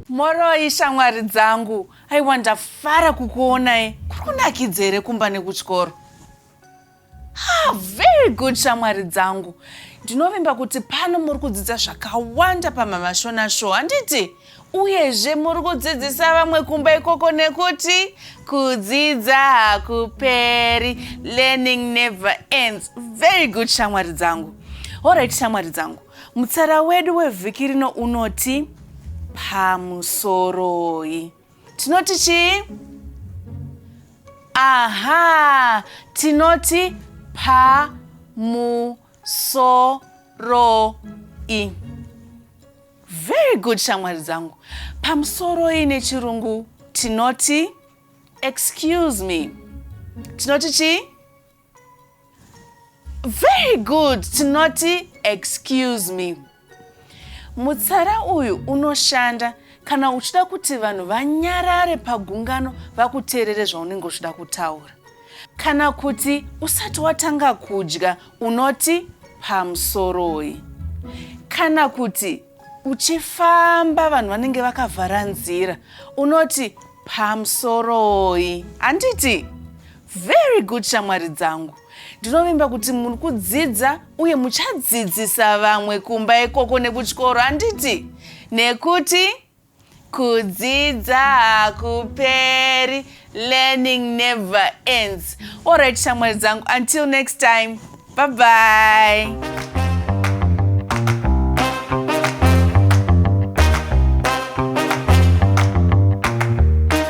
moroi shamwari dzangu aiwa ndafara kukuonai kuri kunakidza here kumba nekutyoro ah, very good shamwari dzangu ndinovimba kuti pano muri kudzidza zvakawanda pamamashona show handiti Uyezve muri kudzidzisa vamwe kumba ikoko nekuti kudzidza hakuperi learning never ends. Very good shamwari dzangu. Alright shamwari dzangu. Mutsara wedu wevhiki rino unoti pamusoroi. Tinoti chii? Aha, tinoti pamusoroi. Very good shamwari dzangu. Pamusoro ine chirungu tinoti excuse me. Tinoti chi? Very good. Tinoti excuse me. Mutsara uyu unoshanda kana uchida kuti vanhu vanyarare pagungano vakuteerere zvaunenge uchida kutaura kana kuti usati watanga kudya Unoti pamusoroi? Kana kuti uchifamba vanhu vanenge vakavhara nzira unoti pamusoroi handiti very good shamwari dzangu ndinovimba kuti muri kudzidza uye muchadzidzisa vamwe kumba ikoko nekuchikoro handiti nekuti Kudzidza hakuperi, learning never ends. Alright shamwari dzangu, until next time, bye bye.